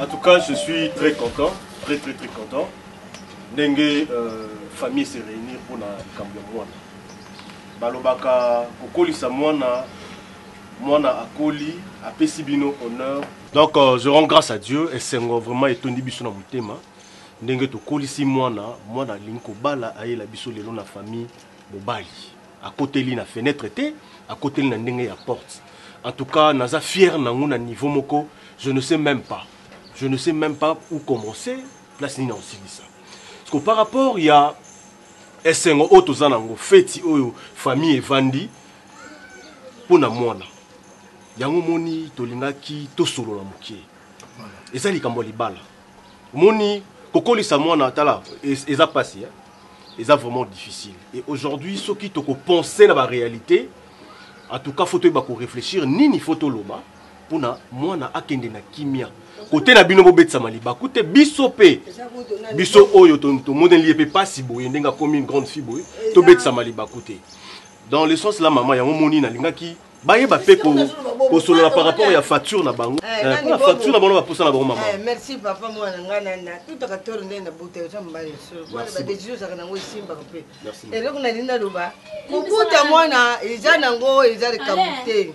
En tout cas, je suis très content, très très très content. Dengue, euh, famille se réunir pour la Cambia Mwana. Balobaka, Kokoli Samwana, Mwana Akoli, Apesibino, honneur, Donc euh, je rends grâce à Dieu esengo vraiment etondi biso na motema ndenge tokolisi mwana mwana alingi kobala ayela biso lelo na famille mobali akoteli na fenêtre te akoteli na ndenge ya porte en tout cas naza fier nango na niveau moko je ne sais même pas je ne sais même pas où commencer place nini nakosilisa parce que par rapport ya esengo oyo toza nango feti oyo famille evandi mpo na mwana yango omoni tolingaki tosolola moke eza likambo ya libala omoni kokolisa mwana tala eza mpasi eh? eza vraiment difficile et aujourd'hui soki tokopense na baréalité en tout cas fo toyeba korefléchir nini fo toloba mpo na mwana akende na kimia kote na bino bobetisama libaku te biso mpe biso oyo tomoneli ye mpe mpasi boye ndenge akomi une grande fille boye tobetisama libaku te dans le sens la mama yango moni nalingaki bayeba mpe kosolola par rapport ya facture na bango eh, eh, mpona facture na bango na baposa na bango mama eh, merci papa mwana ngai nana tutaka toro ndenge na buta oza mobali soloana badesizio ozalaka nango esimbaka mpe eloko nalingi naloba kobuta mwana eza nango eza likambo te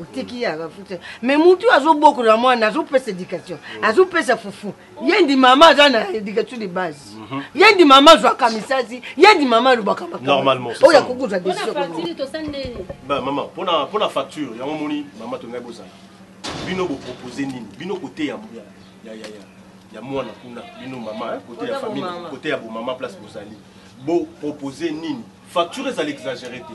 otiki ye akafuta me mutu azobokola mwana azopesa éducation mm. azopesa fufu ye ndi mama aza na éducation de base mhm. ye ndi mama azwaka misasi ye ndi mama alobaka makamooyo akoki kozwa desimpona facture yango moni mama tongai bozala bino bopropose nini bino kote ya ya mwana kuna bino mama eh, kote ya famille kote ya bomama place bozali bopropose nini facture ezali exagere te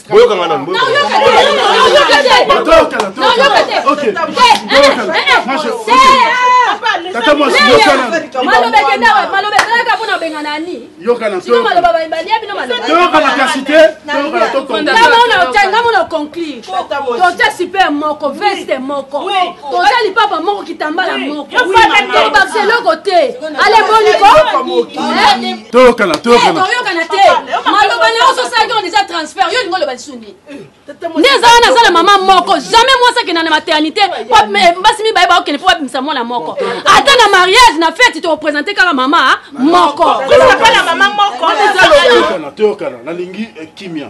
boyoka nga nanu tata mwasi yokanamalobezelaka mpona obenga nani yokanamaloba balia bino malobayokana kasi te ngamona oconclure toza super moko veste moko toza lipapa moko kitambala moko tobakisa eloko te ale boniko toyokana toyokana eh, te maloba na yo ozosalaki on eza transfert yo olingi oloba lisusu nini nde eza wana aza na mama moko jamais mwasi akenda na maternité eh, basi mibale baokende mpo babimisa mwana moko ata na mariage na feti tokopresente kaka mama moko toyokana nalingi eh, kimia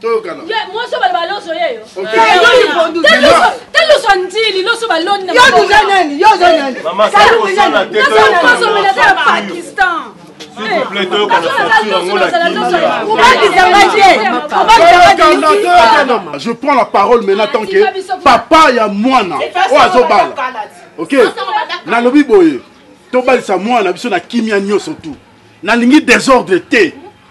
toyokana mwasi obala baloso yeyo taloso ndili loso baloni naoza nani yo oza nani naokozomelaza pakistan je prends la parole maintenant tant que papa ya mwana oyo azobala ok nalobi boye tobalisa mwana biso na kimia nyonso tout nalingi desordre te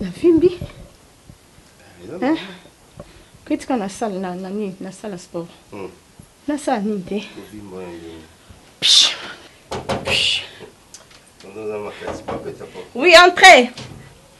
navimbi koyetika nasala na nani nasala sport hmm. nasala nini te oui entrez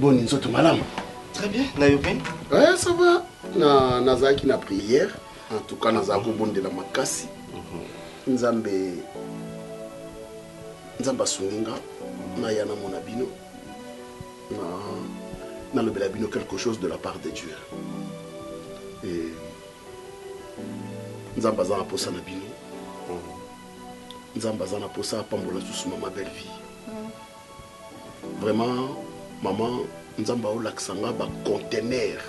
boni nzoto malamu très bien na yo mpe eh, ça va na nazalaki na prière en tout cas nazala kobondela makasi mhm. nzambe nzambe asungi nga naya namona bino na nalobela bino quelque chose de la part de dieu e nzambe aza na mposa na bino mhm. nzambe aza na mposa apambola susu mama belle vie vraiment maman nzambe aolakisa nga bacontenaire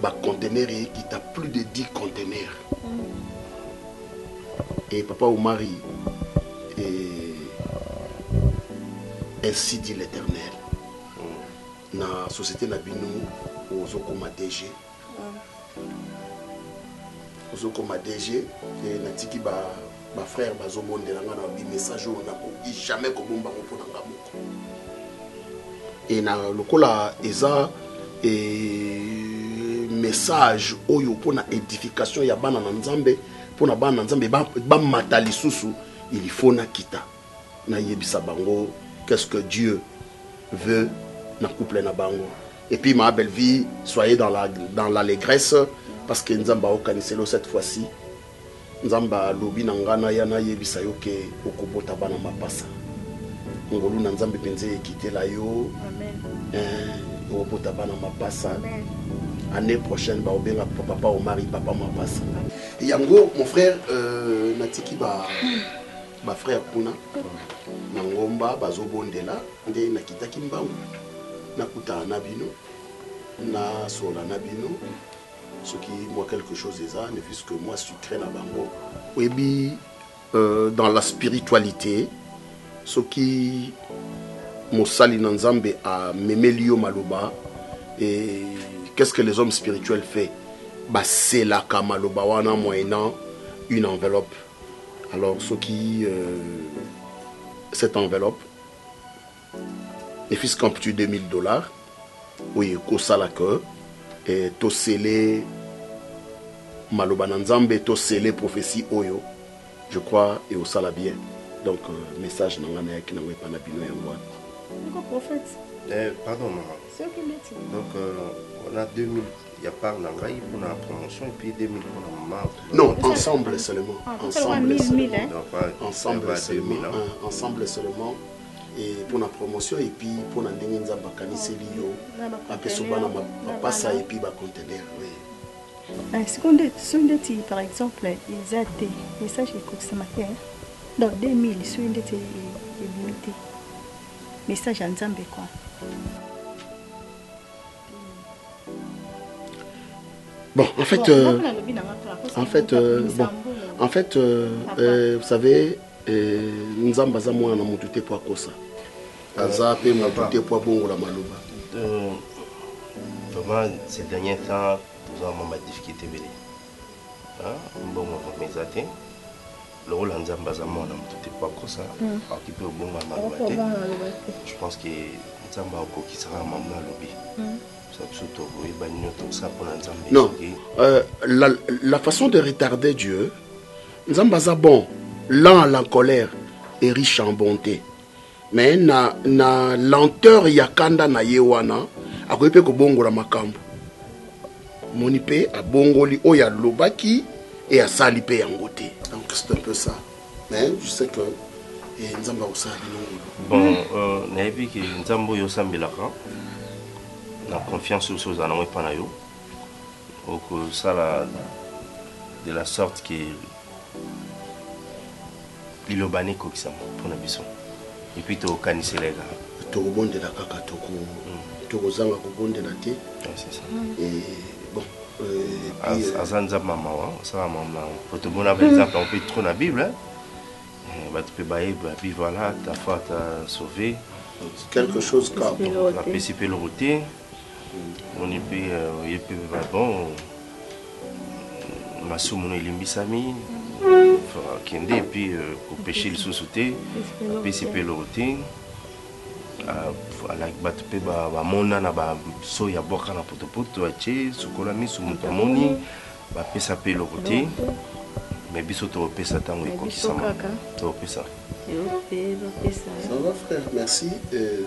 bacontenaire ekita plus de 10 contenaire e papa omari e, ainsi dit l'éternel na société na bino ozokoma dg Ozo koma DG et na tiki ba ba frères bazo bondela nga na bi message oyo na koki jamais ko bomba ngo pona nga moko. Et na lokola eza et message oyo pona edification ya bana na Nzambe pona bana na Nzambe ba, ba mata lisusu il faut na kita. na yebisa bango qu'est ce que Dieu veut na couple na bango et puis ma belle vie soyez dans la dans l'allégresse parce que Nzambe aokaniselo cette fois-ci Nzambe alobi na nga na ya na yebisa yo ke okobota bana mapasa ngolu na Nzambe mpenza ekitela yo eh, obota bana mapasa Amen. année prochaine baobenga papa omari papa mapasa yango mon frère euh, natiki ba ba frère kuna na ngomba bazobondela nde nakitaki mbangu nakutana na bino nasola na bino soki mwa quelque chose eza ne fils que mwa sucre na bango oyebi euh, dans la spiritualité soki mosali na nzambe amemeli yo maloba et qu'est ce que les hommes spirituels fait baselaka maloba wana moyennant une enveloppe Alors soki euh, cette enveloppe ne fils qu'un petit 2000 dollars oyo ekosala que eh, tosele maloba na nzambe tosele prophétie oyo je crois ekosala bien donc euh, message na ngai nayaki nango epai na bino yango wana eh, pardon mama donc euh, on a 2000 ya part na ngai pour la promotion et puis 2000 pour la maman non ensemble seulement ah, ensemble seulement hein. ensemble seulement hein. hein, ensemble seulement et pour la promotion et puis pour la ndenge nzambe akaniseli yo apesa bana mapasa et puis bacontener oui ah, sikoyo nde soki ndeti par exemple eza te message ekokisama te donc 2000 soki ndeti ebimi te message ya nzambe quoi Bon, en fait, bon, euh, en fait, euh, bon, en fait, euh, euh, vous savez, euh, Nzamba aza mwana na mutu te po akosa. Aza pe mutu te po abongola maloba. Euh, vraiment, ces derniers temps, nous avons ma difficulté belé. Hein, bon, on va lokola nzambe aza mwana moto te po akosa akoki mpe obongo ya maloba te je pense ke nzambe akokisa kaka mamona alobi biso biso tokoyebani nio tokosala mpo na nzambe non euh, la, la façon de retarder dieu nzambe aza bon lent à la colère et riche en bonté Mais na, na lenteur ya kanda na ye wana akoki mpe kobongola makambo moni mpe abongoli oyo alobaki e asali mpe yango te donc c'est un peu ça mais je sais que e nzambe akosala bino ngulu bon euh, nayebi ke nzambe oyo osambelaka na confiance oyo ozala nango epa na yo okosala de la sorte ke liloba n'ekokisama mpo na biso epuis tokanisela ye kaka tokobondela kaka tokozanga kobondela te aza nzambe ya mawa osala mawa malamu po tomona ba exemple yango mpe trop na bible eh, bato mpe bayeba bi voilà ta foi ta sauve quelque chose apesi mpe eloko te omoni mpe euh, oye mpe bon masumu no elimbisami akende epuis euh, kopeshe lisusu te apesi mpe eloko te bato mpe bamona na baso ya bwaka na potopoto atie sukola miso moto amoni bapesa mpe eloko te me biso tokopesa ntango ekokisama tokopesa merci euh,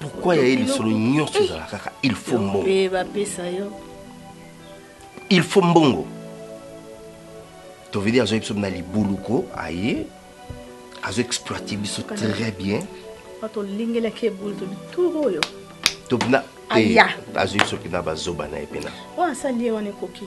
Pourquoi ya lisolo nyonso eh. ezala kaka il faut mbongo. Pe ba pesa yo. Il faut mbongo. To veut dire azo biso na libuluko aye azo exploiter biso très bien. Pato lingela ke bulu to bituro yo. To bina eh, azo biso pina ba zoba na ye pina. Wa sali ye wana ekoki.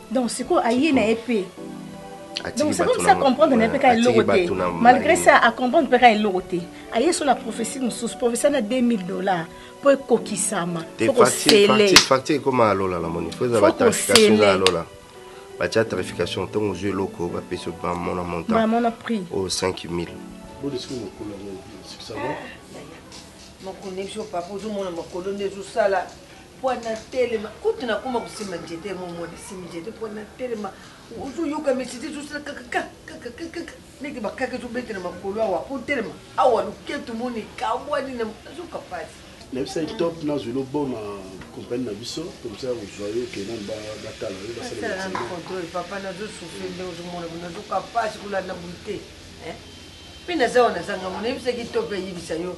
donc sikoyo aye na ye mpe donc c'est comme ça comprendre na ye mpe kaka eloko te malgré ça acomprendre mpe kaka eloko te aye so na prophétie mosusu prophétie na 2000 dollars mpo ekokisama fokoseleacture ekoma ya lola na moni fo eza batarification eza ya lola batya tarification ntango ozwi eloko bapesi bamona montant prix oyo 5000 mokolo nde ezosala mpo natelema kutu nakoma kosimba njete mo mwana simbi njete mpo natelema ozoyoka mesite ezosala kakakakakakaka ndenge bakaka ezobetela makolo awa mpo telema awa loketu moni ekabwani na azoka mpasi nayebisa ye top nazwi loboma kompani na biso komsa ya kozwa yo kena batala yo basalaacontrole papa nazosufri nde ozomona bo nazoka mpasi kolanda boye te mpe naza wana nazangango nayebisaki top eyebisa yo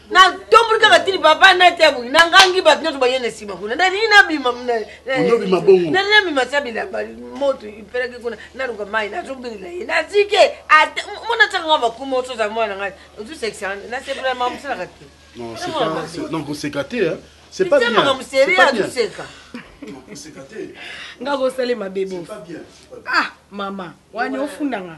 natomboli kaka tini papa nati abongi nangangi bato nyonso baye na nsima kuna nalingi nabima nabima sa bilamba moto ipelaki kuna naluka mai nazobinela ye nazike mona tiaka nga bakuma osoza mwana ngai ozusekisa nasepela mama mosalaka te non koseka te c'est pas bien makambo serie azoseka nga kosali mabe bo ah mama wani ofundanga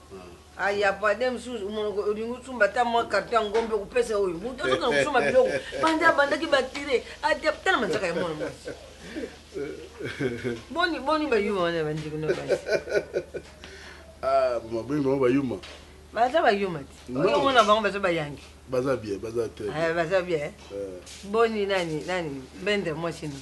Ah, ya pade mosusu omonoko olingi osumba ata mwa karto ya ngombe okopesa oyo moto azokana kosumba biloko banda abandaki batire tala manzaka ya mwana mwasi boni boni bayuma wana bandeko na basi ah, maboni bango bayuma baza bayuma te oyo omona bango baza bayangi baza bien baza te eh, baza bien eh. boni nani nani bendre mwasi nini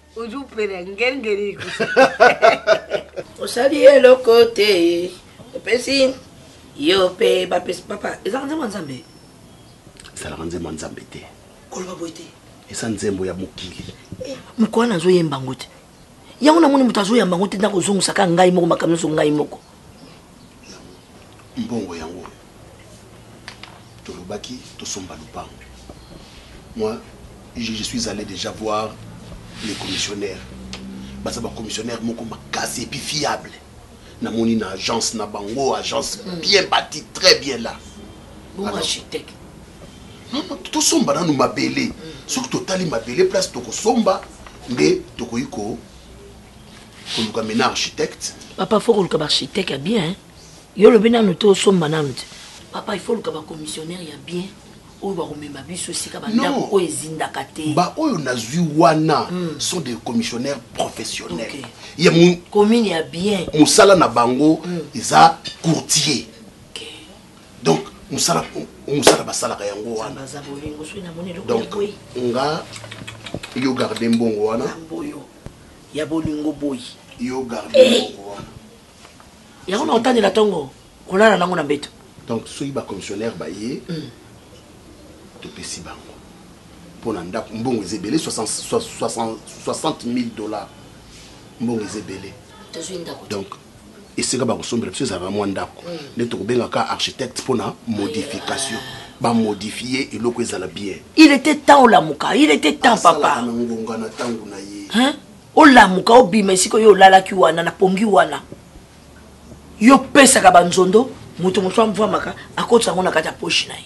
ozupela ngengeli osali eloko te opesi yo mpe bapesi papa ezalaka nzembo ya nzambe ezalaka nzembo ya nzambe te koloba boye te eza nzembo ya mokili eh, mokolo wana azoyemba yango te yango namoni moto azoyamba yango te nako ozongisaka ngai moko makambo nyonso ngai moko mbongo yango oyo tolobaki tosomba lupango moi je, je suis allé déjà voir les commissionnaires baza bacommissionnaire moko makasi epuis fiable namoni na agence na bango agence hmm. bien bati très bien là architecte tosomba nanu mabele hmm. soki totali mabele place tokosomba nde tokoki ko koluka mena architecte papa fo koluka baarchitecte ya bien yo olobi nanu te osomba nanu te papa ifo oluka bacommissionnaire ya bien oyo bakomema biso esika bandako oyo ezindaka te baoyo nazwi wana hmm. sont des commissionnaires professionnels ya commune ya bien mosala na bango hmm. eza courtier donc mosala mosala basalaka yango wana donc nga yo garde mbongo wana ya bolingo boyi yo garde eh. mbongo wana yango na otandela ntongo kolala nango na mbeto donc soki bacommissionnaire baye mm. topesi bango mpo na ndako mbongo eza ebele 60 000 dollars mbongo eza ebele donc esika bakosombela biso ezalaka mwa ndako mm. nde tokobenga ka architecte mpo na modification bamodifie eloko ezala bien il était temps olamuka il était temps papa na ngonga na ntango na ye olamuka obima esika oyo olalaki wana na pongi wana yo opesaka banzondo moto mosusu amvwamaka akotisa yango na kati ya poshi na ye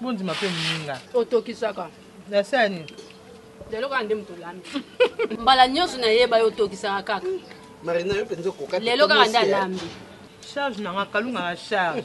bondima mpe moninga otokisaka na se ya nini lelo kaka nde moto olambi mbala nyonso nayeba yo otokisaka kaka marina yo mpenza okoka lelo kaka nde alambi charge nanga kalunga na charge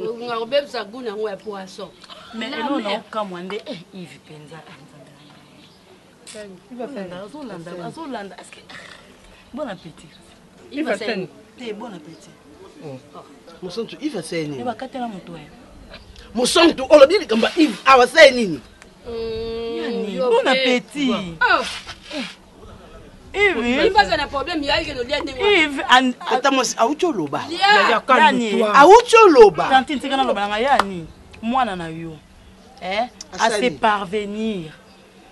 Ngonga kobebisa goût nango ya poisson. Mais eno na okamwa nde eh Yves penza. Azolanda azolanda est-ce que bon appétit. Yves Sen. Te bon appétit. Oh. oh. Mosantu Yves aseye nini? Eba katela moto ya. Mosantu olobi likambo Yves awa aseye nini? Bon appétit. Oh. awuti oloba awuti oloba tantine tika naloba na ngai yani mwana na yo eh, ase parvenir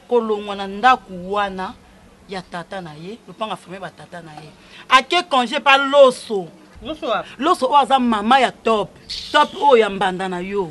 kolongwa na ndako wana ya tata na ye lopanga famille batata na ye ake congé pa loso loso oyo aza mama ya top top oyo ya mbanda na yo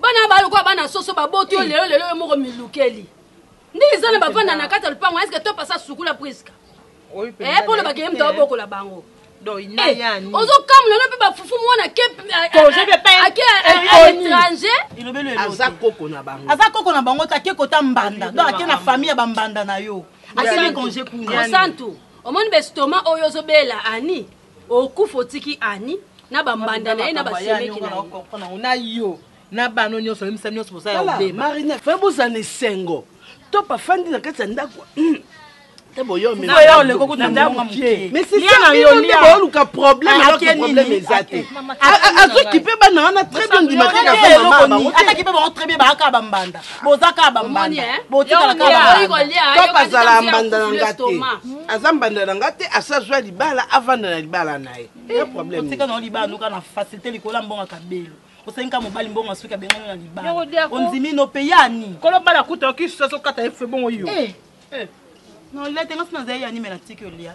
bana ba lokola bana soso baboti yo lelo lelo yo moko milukeli nde eza na bavanda na kati ya lopango eske to pasa sukula priska eh, mpo olobaka ye moto abokola bango eh, ozokamula no mpe bafufu mwana keaza koko na bango aza koko na bango te ake kota mbanda don ake na famille ya bambanda na yo akeli congé kuna santu omoni bestoma oyo ozobela ani Okufa otiki Annie na ba mbanda na ye na ba semeki na ye. Na yo na bana oyo nionso oyebisa nionso boza ya obeba. Tala Marina fallait bozala na esengo top afandi na kati ya ndako te boya oluka problème alors que problème eza te azokipe bana wana très bien ndima te aza mama bango te boza kaka bambanda botikala kaka azala mbanda na nga te aza mbanda na nga te asa azwa libala avanda na libala na ye eh, problèmetika na yo libala noka na facilité likolo ya mbonga kabelo osengi ka mobali mbongo ya soki abengani na libala ondimi no mpe yani kolobala kuta okisusu azokata ye fe bongo yo eh. eh. nolete ngasi nazali yanimela tiki olia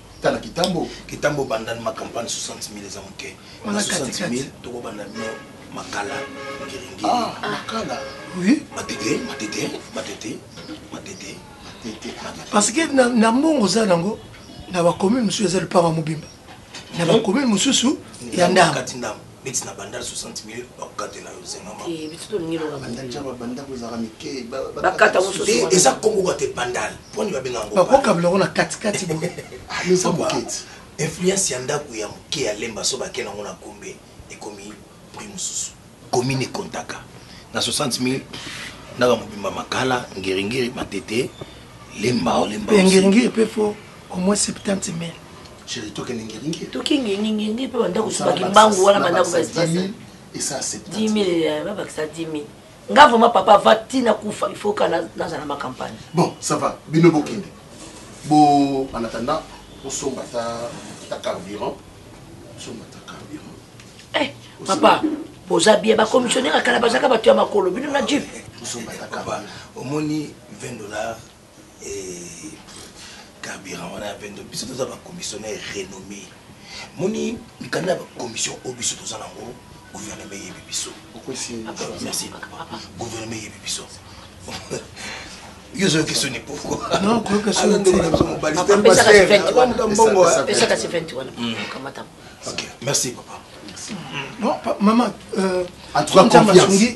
tala kitambo kitambo banda ma campagne 60000 eza moke na 60000 tokobanda bino makala ngiringi ah, ah. makala oui matete matete matete matete parce que na mbongo oza nango na bacommune mosusu eza lupanga mobimba na bacommune mosusu ya ndambo neti na bandal 60 mil bakokatela yo zenga ma eh, biso tolingi loka bandal ja babanda kozaka mike bakata mosusu eh, eza kongo kwa te bandal poni babenga ngo bakokabela ngo na katikati boye eza moketi influence ya ndako ya moke ya lemba so bakela ngo na kombe ekomi prix mosusu commune ekontaka na 60 mil ndaka mobimba makala ngeringeri matete lemba olemba ngeringeri pe fo au moins 70 mil Chérie, toke ningiringi. Toke ningiringi pe banda kusuba kimbangu wana banda kusuba espace. Et ça c'est 10 000 euh, ba bakisa 10 000. Nga vraiment papa va tina kufa il faut kana naza na ma campagne. Bon, ça va. Bino bokende. Bo en attendant, on somba ta ta carburant. Somba ta carburant. Eh, papa, boza bien ba commissionnaire akala bazaka batu ya makolo bino na jeep. Somba ta carburant. Omoni 20 dollars Eh, carburant wana ya pendo biso toza ba commissionnaire renommé moni mikanda ya ba commission oyo biso toza nango gouvernement eyebi biso merci gouvernement eyebi biso yo ozoyoki soni pourquoimerci papa mama en tout cas confiance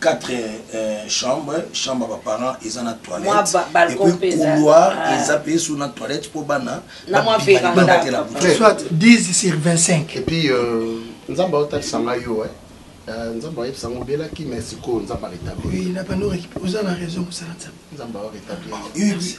4 chambre chambre ba parents eza na toilette et puis couloir ah. eza pe sous na toilette pour bana na moi veranda soit 10 sur 25 et puis euh, nzamba otalisa ngai yo hein euh, nzambe ayebisa yango obelaki mais sikoyo nzambe aretabli oui na bano oza na raison mosala nzambe nzambe aretabli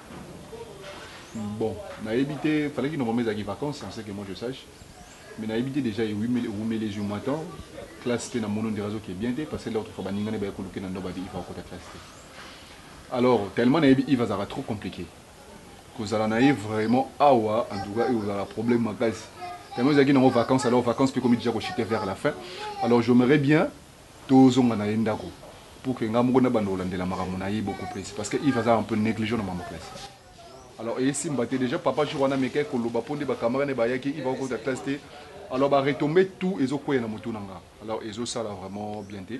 Bon nayebi te falaki normalement ezalaki vacances en ce que moi je sache mais nayebi te dejà ewumeli ezwi mwa temps classe pe na mono ndira azoke bien te parce que l'autre fois baninga ne baye koluke na ndoba bi iva okota classe te alors tellement nayebi iva azalaka trop compliqué kozala na ye vraiment awa en tout cas ekozala problème makasi tellement ezalaki nango vacances alors vacances pe ekomi dejà kochite vers la fin alors j'aimerais bien To zonga na ye ndaku pour que nga moko na banda ko landela makambo na ye beaucoup plus parce que Yves aza un peu negligent na makambo ya classe alors eye simba te dejà papa jour wana amekaki ko loba po nde ba camarade na ye ba yaki Yves ako kota classe te alors ba retombe tout ezo kweya na mutu na nga alors ezo sala vraiment bien te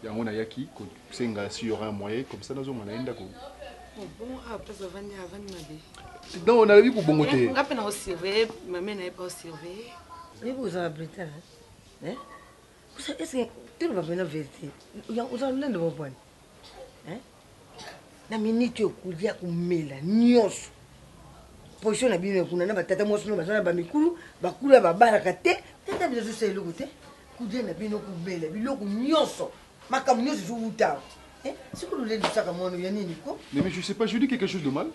yango na yaki ko senga si y'aura un moyen comme ça na zonga na ye ndaku donc na lobi ko bongo te nga pe na ko surveiller mame na ye pe ako surveiller Yves oza na Britannie hein Oza est-ce que toloba mpena verite ya oza lolendo mwa bwana hein na minute oyo kolia komela nyonso position na bino ya kuna na batata mwasi no baza na bamikulu bakula babalaka te tata bino azosala eloko te kolia na bino komela biloko nyonso makambo nyonso ezowuta awa eh, siko lolendisaka mwana ya nini ko mais je sais pas je dis quelque chose de mal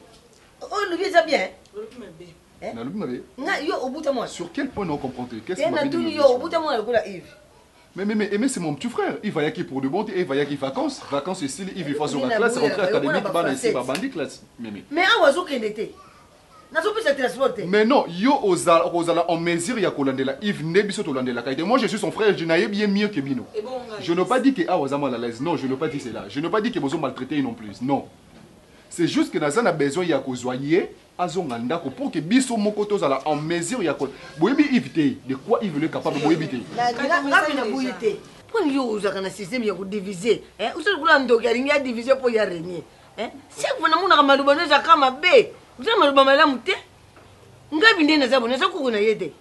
oyo oh, lobi eza bien Eh? Nalobi mabe. Nga yo obuta mwana. Sur quel point na comprendre te? Qu'est-ce que mabe? Te natuni yo obuta mwana lokola Yves. Mais, mais, mais, mais c'est mon petit frère. Il va yaki pour de bon, et il va yaki vacances. Vacances ici, il vit face à la classe, rentrée académique, ban ici, ba bandit classe. Mais, mais. Mais, ah, oiseau qu'elle était. nazopesa transport te mais non yo ozala okozala en mesure ya kolandela ive nde biso tolandelaka ete moi je suis son frère je nayebi ye mieux que bino je ne pas dit que awa aza mal à l'aise non je ne pas dit cela je ne pas dit que bozo maltraite ye non plus non c'est juste que naza na besoin ya kozwa ye Azonga ndako pour que biso moko tozala en mesure ya ko boyebi Yves te de quoi Yves le capable boyebi te. Ngape na boyi te. Pona yo ozalaka na système ya ko divise eh oza lokola ndoki alingi a divise po ya regne eh chaque fois namonaka maloba no eza ka mabe oza maloba malamu te ngabi nde naza boye naza koko na ye te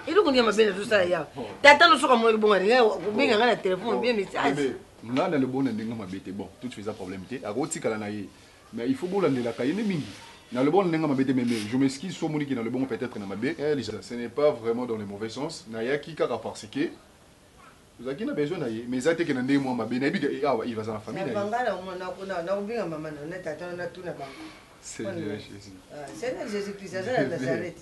eloko nde ya mabe nazosala yawa tata no soki amonaki bongo alingi kobenga ngai na telefone obie message ngai na lobona ndenge mabe te bon tout faisant problème te akotikala na ye Mais il faut bolandelaka ye nde mingi. Na loboko na ndenge mabe te mais mais je m'excuse soki omoni que na loboko peut etre na mabe. Elsa ce n'est pas vraiment dans le mauvais sens nayaki kaka parce que tozalaki na besoin na ye mais eza te que na ndenge mua mabe nayebi que eh awa Yves aza na famille na ye. Nabanga na omona na kuna na kobenga mama na yo na tata na yo natuna bango. Seigneur Jesus. Seigneur Jesus Christ aza na Nazareth.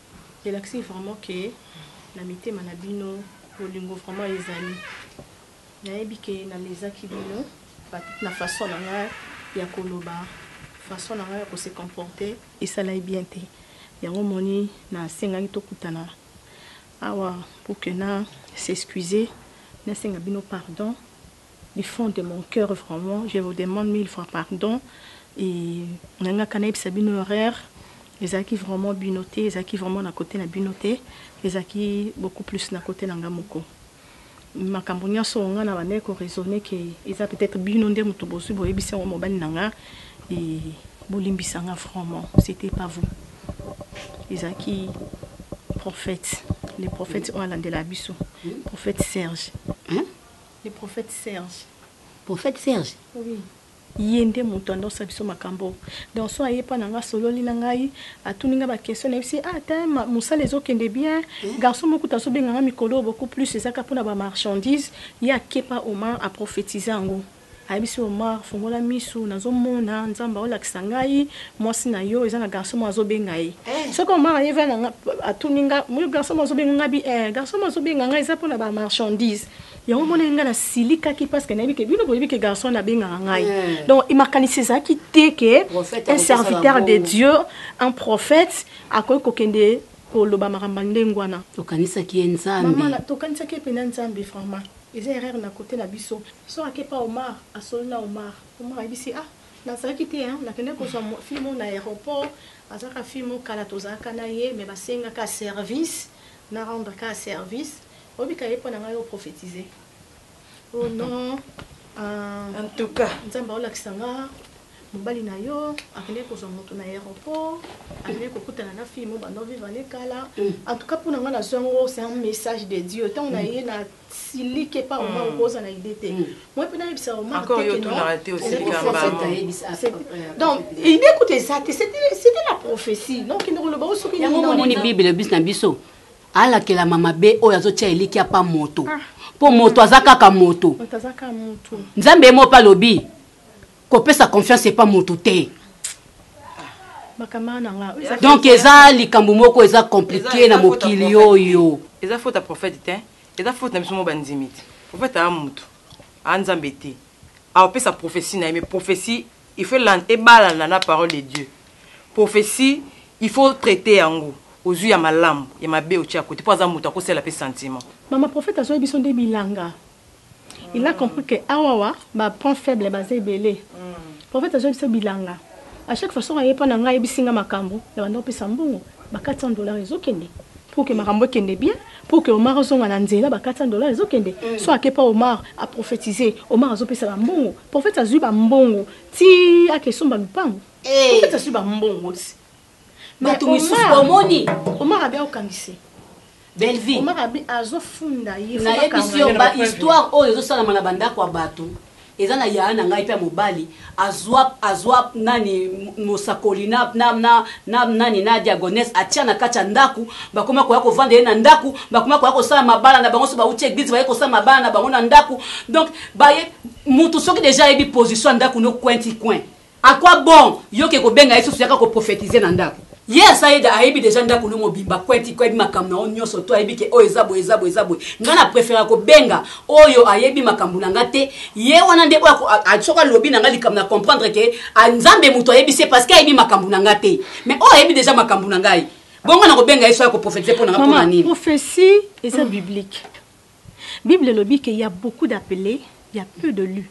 Elakisi vraiment que na mitema na bino bolingo vraiment ezali. Nayebi que na lezaki bino peut-etre na façon na nga ya koloba, façon na nga ya ko se comporter esalai bien te. Yango omoni na sengaki tokutana awa pour que na s'excuser, nasenga bino pardon. Du fond de mon cœur vraiment je vous demande mille fois pardon et nalingaka nayebisa bino erreur ezalaki vraiment bino te ezalaki vraiment na cote na bino te ezalaki beaucoup plus na cote na nga moko makambo nionso oyo nga na bandaki ko raisonner que eza peut etre bino nde mutu bozui boyebisi yango mobali na nga et bolimbisa nga vraiment c'etait pas vous ezalaki prophète le prophète oyo alandelaka biso prophète Serge. Le prophète Serge. Prophète Serge? Oui. Ye nde mutu annosa biso makambo oyo. Donc soki aye epa na nga asololi na ngai, atuni nga ba question nayebisi ye ah tein ma musala ezo kende bien, garçon moko kutu azo benga nga mikolo oyo beaucoup plus eza kaka pona ba marchandises, ye ake epa Omar a prophetiser yango. Ayebisi Omar fungola misu nazo mona Nzambe azo lakisa ngai mwasi na yo eza na garçon moko azo benga ye. Soki Omar aye epa na nga atuni nga garçon moko azo benga nga bi eh garçon moko azo benga nga eza pona ba marchandises. Yango omonaki ngai nasilikaki parce que nayebi ke bino boyebi ke garçon wana abengaka ngai eh. donc makanisi ezalaki te ke un serviteur de dieu un prophète akoki kokende koloba makambo ndenge wana tokanisaki ye nzambe tokanisaki ye mpena nzambe vraiment eza erreur na kote na biso so ake pa omar asoli na omar omar ayebisi ah nazalaki te nakende kozwa fille moko na aéroport azalaka fille moko kala tozalaka na ye me basengaka service na rendre ka service Obika ye pona ngai o prophetise oh non ah en tout cas nzambe aolakisa nga mobali na yo akendeki kozwa moto na aeroport akendeki kokutana na fille mo bando vivre ne kala mm. en tout cas mpo na ngai nazwi yango c'est un message de dieu ntango na mm. ye na siliki epa mm. omar okoza na idée te moi mpe nayebisa omar donc idée kutu eza te c'était la prophétie donc kende koloba o soki yango omoni bible bis na biso alakelama mabe oyo azotia elikya pa moto ah. mpo moto aza kaka moto nzambe ye moko mpe alobi kopesa confiance epa moto te ah, donc eza likambo moko eza komplike na mokili oyo eza fota prophète te eza fota na biso moko bandimi te prophète aa moto aa nzambe te aopesa prophesie na ye me prophesie Il faut elanda ebalana na parole de Dieu. Prophetie il faut traiter yango. Ozui ya malamu, ya mabe otie à cote po aza mutu ako sela pe sentiment. Mama prophète azuaki biso nde bilanga il a compris que awawa ba point faible baza ebele prophète azuaki biso bilanga à chaque fois soki aye epa na ngai ayebisi ngai makambu na banda kopesa mbongo ba 400 dollars ezo kende Pour que makambo ekende bien, pour que Omar azonga na nzela, ba 400 dollars ezo kende, soit ake pa Omar a prophetiser, Omar azo pesa ba mbongo, prophète azui ba mbongo ti ake somba lupangu, prophète azui ba mbongo ti mais Omar, Omar abi aokangise. Bellevue Omar abi azo funda ye, nayebisi yo ba histoire oyo ezo salama na ba ndako ya batu Eza na yaya na ngai pe ya mobali azua azua nani mosakoli na na na na nani na diagonesse atia na kati ya ndaku bakoma koya kovanda ye na ndaku bakoma koya kosala mabala na bango so bauti eglise baye kosala mabala na bango na ndaku donc baye mutu soki deja ayebi position ya ndaku no coin ti coin A quoi bon yo ke kobenga ye susu yaka ko prophetiser na ndaku. Ye ya Saïda ayebi dejà ndaku no mobimba kwenti kwebi makambu na yo nioso tout ayebi ke oyo eza boye eza boye eza boye nga na preferaka ko benga oyo ayebi makambu na nga te ye wana nde oyo ako a soki alobi na nga likambu na comprendre ke a nzambe mutu ayebisi ye parceque ayebi makambu na nga te mais oyo ayebi dejà makambu na ngai bongo na ko benga ye soki ako prophetise pona nga pona nini prophetie eza mm. biblique bible elobi ke ya beaucoup d'appeler ya peu de lu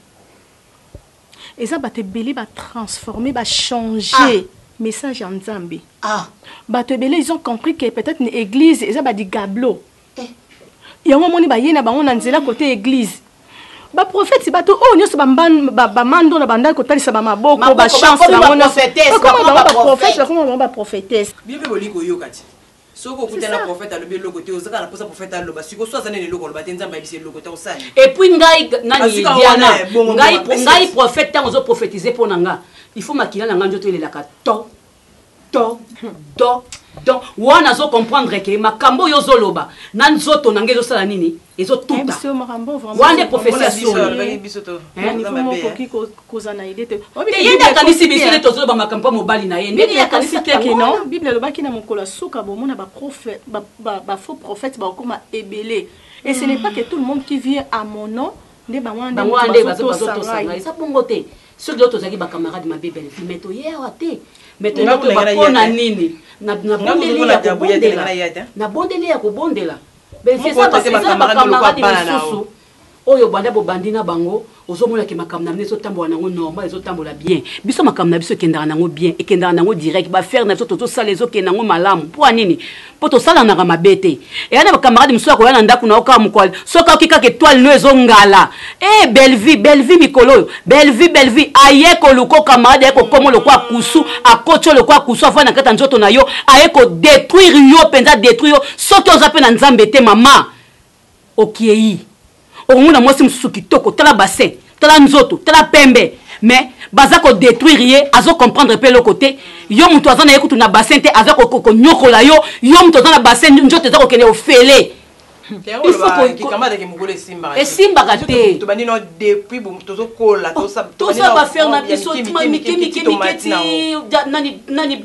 Eza bato ebele ba transformer ba changer ah. message ya Nzambe. Ah. Bato ebele ils ont compris que peut-être ni église eza ba digablo. Eh. Yango moni ba yena bango na nzela côté église. Ba prophètes bato oyo nyoso ba ba, ba mando na banda ko talisa ba maboko ba chance ba mona. Ba prophètes ba koma ba prophétesse. Bibi boli ko yokati. Soki okuta na prophète alobi eloko te ozaka na posa prophète aloba siko so aza nene eloko aloba te nzambe ayebisa eloko te osali et puis ngai nani diana ngai ngai prophète tango ozo prophétiser pona nga il faut makila na ngai nzoto elelaka to to to donc wana azo comprendre ke makambo oyo ozoloba na nzoto na ngai ezosala nini ezotuta wana nde prophetie ya solo kozala na idee te te ye nde akanisi biso nde tozoloba makambo mpo mobali na ye ndenge ye akanisi te ke non bible elobaki na mokolo ya suka bomona bafaux prophète bakokoma ebele et ce n'est pas que tout le monde qui vient à mon nom nde bango wana nde bazotosa ngai eza bongo te soki leo tozalaki bacamarade mabe belfi mais toye awa te mais toyeba mpo na nini nabondeli ya kobondela belfi eza bacamarade mosusu Oyo banda bobandi na bango ozo mona ke makambo na bino ezo tambola na yango normal ezo tambola bien biso makambo na biso ekendaka na yango bien ekendaka na yango direct ba affaire na biso tozo sala ezo kende na yango malamu mpo ya nini mpo tosalanaka mabe te eya na ba camarade mosusu akoya na ndako na yo kaka mokolo soki aoki kaka etoile no ezo ngala eh Bellevue Bellevue mikolo oyo Bellevue Bellevue aye koluko camarade aye kokomo lokwa kusu akoti yo lokwa kusu avandi na kati ya nzoto na yo aye ko detruire yo mpenza detruire yo soki oza mpe na nzambe te mama Okiei. Okomona mwasi mosusu kitoko, tala bassin, tala nzoto, tala pembe. Mais baza ko detruire ye, azo comprendre pe eloko te. Yo mutu aza na ye kutu na bassin te, aza ko ko nyokola yo. Yo mutu oza na bassin, nzoto eza kokende ofele. Il faut ko kikamba da ke mukolo esimbaka. Esimbaka te. To bandi no depuis bo tozo kola, to sa. To sa ba faire na biso, mike mike mike ti nani nani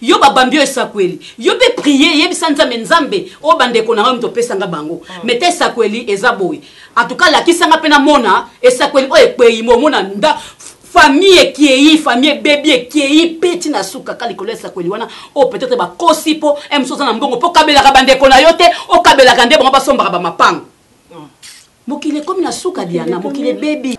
yo babambi yo esakweli yo mpe prie yebisa nzambe nzambe oyo bandeko na ngai moto opesa nga bango mm. meta esakweli eza boye atuka lakisa nga mpe namona esakweli oyo ekwei momona nda famille ekei famille ebebi ekei mpe ntina suka ka likolo ya esakweli wana oyo oh, peut-être bakosi mpo eh, mosu oza na mbongo mpo okabelaka bandeko na yo te okabelaka nde bango basombaka bamapango mm. mokili ekomi na suka diana mokili ebebi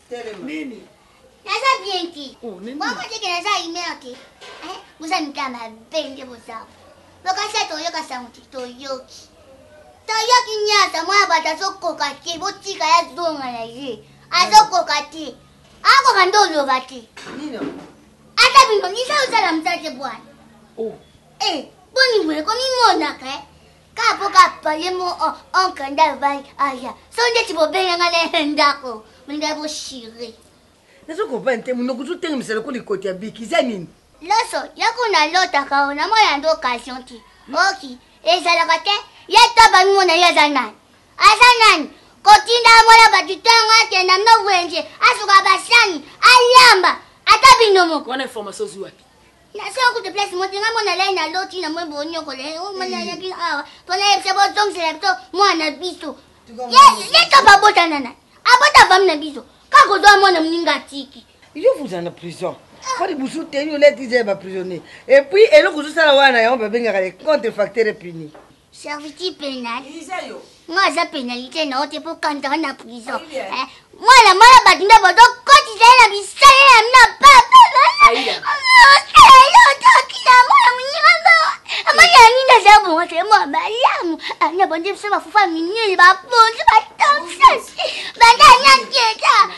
Telema. Nini? Naza bien te. Oh, nini? Mwa mwa teke naza humeur te. Eh, boza mika mabe nde boza. Bokasi ya toyoka sango te, toyoki. Toyoki nyasa mwa bato azokoka te, botika ya zonga na ye. Azokoka te. Akoka nde oloba te. Nini? Ata bino, nisa ozala mzate bwana. Oh. Eh, boni boye komimonaka eh. kaka mpo kaka pale mo onkle nde avandi aya so ndeti bobenganga na ye ndako molinga boshire nazo comprendre te monoko ozotengemisa lokola likoti ya biki eza nini loso yako nalotaka o namona nde occasion te oki ezalaka te ye to bamimona ye aza nani aza nani kotinda mwana bato ntongo akenda mno wenje asuka basani ayamba ata bino moko wana information ozwi wapi na sala kutu place moto nga mona lai na loti na mwe bonyokola eh, oh, mwana eh. ya bino awa mpo nayebisa bozongisela biso mwana na biso ye topa abotana na abota fami na biso kaka ozwa mwana moninga atiki yo vuza na prison mpo ah. libusu te yo letiza ya baprisonnier epuis eloko ozosala wana yango babengaka le contre facteur puni Servitude pénale. Moi, aza pénalité na ote po kanta wana prison. Eh, mwana mwana bato nde bodo kotisa ye na bisale na mina papa. Osala ye otoki na mwana monyama. Amani ya nini aza bongo te mwa malamu. Ana bonde biso bafufa minini baponzi batomsasi. Banda na keta.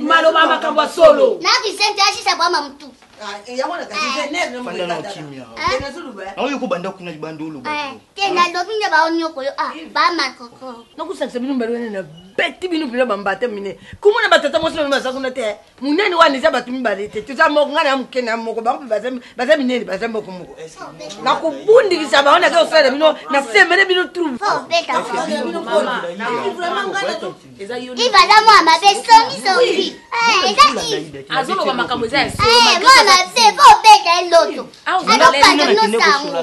maloba makambo ya solo naoyo kobanda kuna libanda olobanakusakisa bino mbaloene na beti bino mpena bambata mine komona batata mwasi bamino baza kuna te munene wana eza bato mibale te toza moko ngai na moke na moko bango mpe baza minene baza moko moko na kobundikisa bango naza kosala na bino na semele bino trouveaza mwa mabe songisongi azoloba makambo eza yamwa mabe bobeta eloto azopata nosango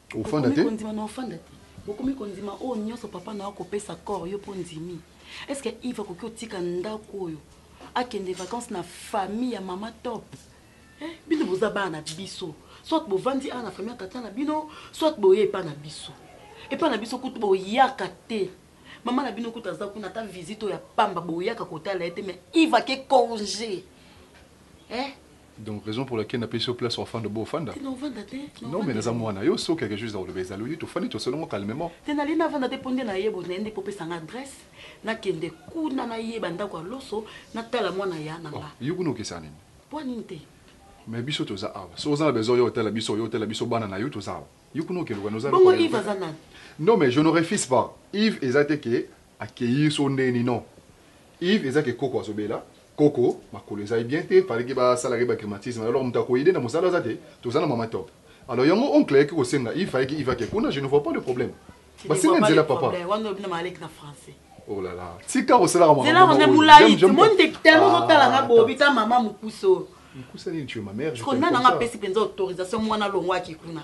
Ofanda te? Kondima na ofanda te. Okomi kondima oyo nyonso papa na yo akopesa corps yo mpo ondimi? Est-ce que Yves akoki otika ndako oyo akende vacances na famille ya mama top? Eh, bino boza bana na biso. Soit bovandi awa na famille ya tata na bino, soit boye epa na biso. Epa na biso kutu boyaka te. Mama na bino kutu aza kuna ata visite oyo ya pamba boyaka kotala ye te mais Yves ake congé. Eh? Donc raison pour laquelle na pesi yo place ofanda obo ofanda? Te na ovanda te. Non mais naza muana yo soki quelque chose na koloba ezali oye tofandi tosolongo calmement. Te nalingi na vanda te po nde na yebo na ye nde po pesa nga adresse na kende kuna na yeba ndaku ya loso na tala muana ya na nga. Yo kuna okesana nini? Pua nini te? Mais biso toza awa soki oza na besoin oya otala biso oya otala biso bana na yo toza awa yo kuna okende okende oza eloko nini? Bongo Yves aza nani? Non mais je ne refuse pas Yves eza te que accueillir so nde nini non. Yves eza ke koko azo bela koko makolo eza ye bien te fallait ke ba sala ke ba grimatisme alors mutu ako aide na musala aza te toza na maman top alors yango oncle ayaki ko senga Yves fallait ke Yves ake kuna je ne vois pas le problème ba senga nzela papa wana lobi na malek na français oh la la tika ko sala maman nzela wana mulayi te mon te tellement zo tala nga bobi ta maman mukuso mukusa nini tu es ma mère je connais nanga pesi penza autorisation mwana longwa ki kuna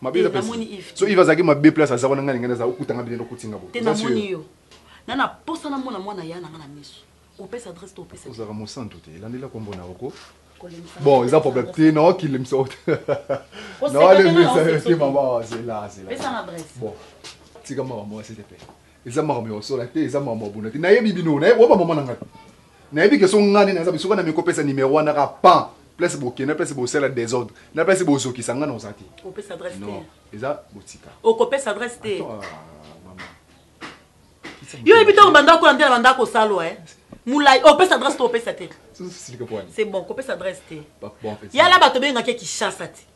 mabe eza pesi so iva azalaki mabe place aza wana ngai ngai naza okuta ngai bino okuti ngai boye eza sio yo na na posa na mona mwana ya na ngai na miso opesa adresse to opesa ozalaka mosantu te elandela kombo na oko bon eza problème te na okilemisa ote na olemisa yo te mama zela zela bon tika mawa mwasi te mpe eza makambo ya kosola te eza makambo ya bunda te nayebi bino nayebi oyo bamama na ngai nayebi ke so ngai nde naza biso wana mikopesa nimero wana ka pan place bokenda place bosala desordre na place bozokisa ngai naoza te eza botika okopesa adresse te ah, yo oyebi ntango bandako kola nde na bandako kosalwa eh? mulai opesa oh, adresse to opesa te c'est bon kopesa adresse te yala bato bengaki ya kishasa te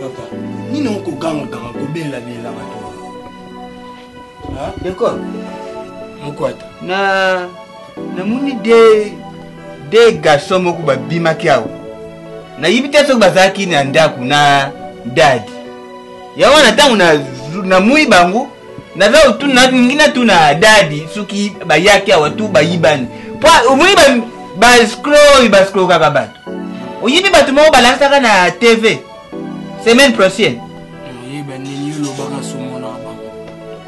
papa nini okogangaganga kobela bilanga to deko mokwata na namoni de de garçon moko babimaki awa nayebi te soki bazalaki na ndako na dadi yango wana ntango namui bango naza otuna ningi natuna dadi soki bayaki awa tu bayibani po omoni bascro oyo bascrokaka bato oyibi bato moko balakisaka na tv semaine prochaine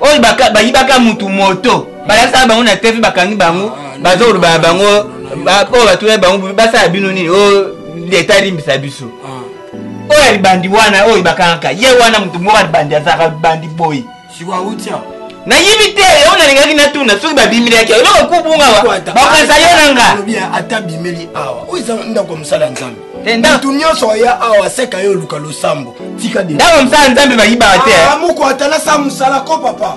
oyo bayibaka mutu moto balakisaka bango na tv bakangi bango ah, baza kolobaka bango oyo batuna bango basala bino nini oyo oh, leta alimbisa biso ah. oyo alibandi wana oyo bakangaka ye wana moto moko alibandi azalaka libandi boye nayibi te yango nalingaki natuna soki babimilaki eloko kubunga bakanisa yo na nga ata bimeli awa oyo eza ndako ya mosala ya nzambe eh, moto nyonso aya awa aseka yo oluka losambo tika ndako ya mosala ya nzambe bayibaka te eh. ah, moko ata nasa mosala ko papa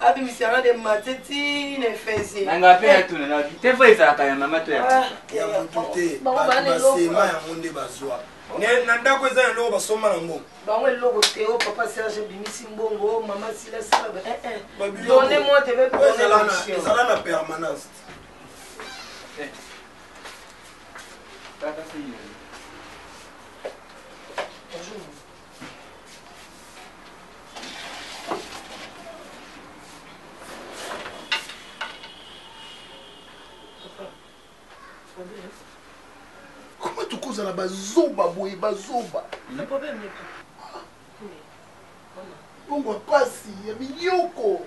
abimisi yanga de mate ti na efese na nga mpe natuna na te fo ezalaka ya mama to ya ah, ya motu te bato basema yango nde bazwa na ndako eza na eloko basomba na mbongo bango eloko te o oh, papa serge bimisi mbongo oh, mama silasilaba eh, eh. donne moi te veezala na permanence eh. Bonjour. koma tokozala bazoba boye bazoba bongo ya mpasi ya minyoko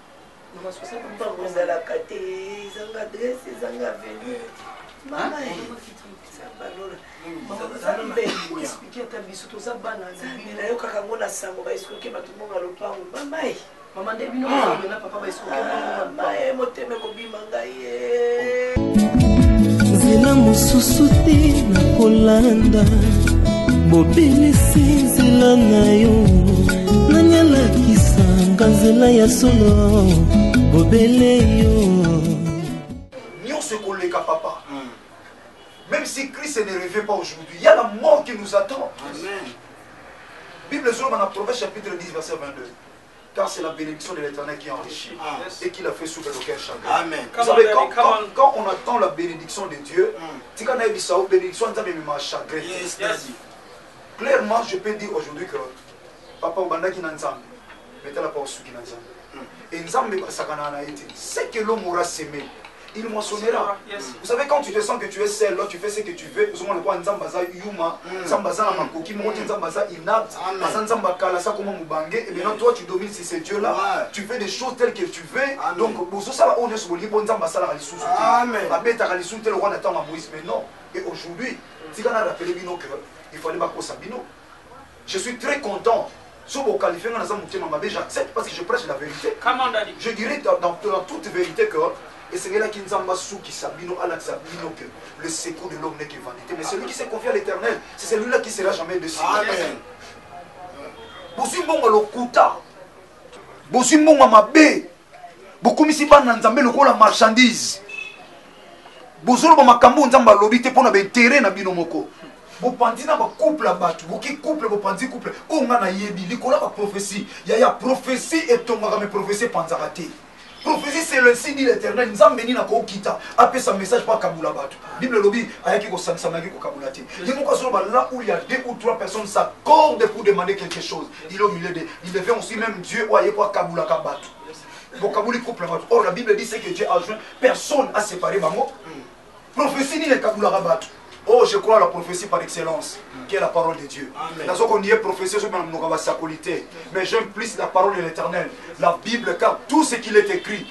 Mpango ezalaka te, ezanga adresse, ezanga avenue. Mama ye, Nzambe alola. Mama ozali mpe expliquer ata biso toza bana Nzambe. Nayokaka yango na sango ba escroke bato mbongo ya lopango. Mama ye. Mama nde bino mozali na papa ba escroke mbongo ya lopango. Mama ye motema ekobima ngai. nzela mosusu te na kolanda bobelisi nzela na yo nani alakisanga nzela ya solo bobele yo nyonso ekoleka papa hmm. même si christ ne revient pas aujourd'hui ya la mort qui nous attend Amen. bible ezoloba na proverbe chapitre 10 verset 22 car c'est la bénédiction de l'éternel qui enrichit ah. et qui l'a fait souffrir d'aucun chagrin. Amen. Vous savez, quand, quand, quand, on attend la bénédiction de Dieu, mm. tika na ebisa o bénédiction nza me ma chagrin. Yes, yes. Clairement, je peux dire aujourd'hui que papa obandaki na nzambe, mais tala pa osuki na nzambe. Mm. Et nzambe basakana na ete, c'est que l'homme aura semé. il moissonnera vous savez quand tu te sens que tu es seul là tu fais ce que tu veux ozomona lokola nzambe aza yuma hmm. nzambe aza na makoki moko te nzambe aza inapte aza nzambe akala sa koma mobange et maintenant toi tu domines si c'est dieu là tu fais des choses telles que tu veux donc bozosala oyo nyonso bolingi mpo nzambe asalaka lisusu te abetaka lisusu te lokola na ntango ya moïse mais non et aujourd'hui tika na rappele bino que il fallait bakosa bino Je suis très content soki bo qualifie nga naza motema mabe j'accepte parce que je prêche la verite je dirais dans, dans, dans toute vérité que esengelaki nzambe asukisa bino alakisa bino que le secours de l'homme n'est que vanité mais celui qui se confie à l'éternel c'est celui là qui sera jamais déçu bozwi mbongo lokuta bozwi mbongo mabe bokomisi bana na nzambe lokola marchandise bozoloba makambo oyo nzambe alobi te mpo na baintere na bino moko bopanzi na bacouple ya bato boki couple bopanzi couple oyo ngai nayebi likolo ya baprofesi yaya profesi etongaka me profesi epanzaka te profesi c'est le nsi dit l'éternel nzambe nini akokita apesa message mpo akabula bato Bible elobi ayaki kosangisa mais ayaki kokabola te. Ye moko azoloba là où il y a deux ou trois personnes s'accordent pour demander quelque chose. Il est au milieu de il devient aussi même Dieu oyo aye ko akabolaka bato. Bokaboli couple bato. Or la Bible dit ce que Dieu a joint, personne a séparé bango. Prophétie nini ekabolaka bato? Oh, je crois à la prophétie par excellence, qui est la parole de Dieu. Nazo qu'on y est prophétie, je m'en basakoli te. Mais j'aime plus la parole de l'éternel, la Bible, car tout ce qu'il est écrit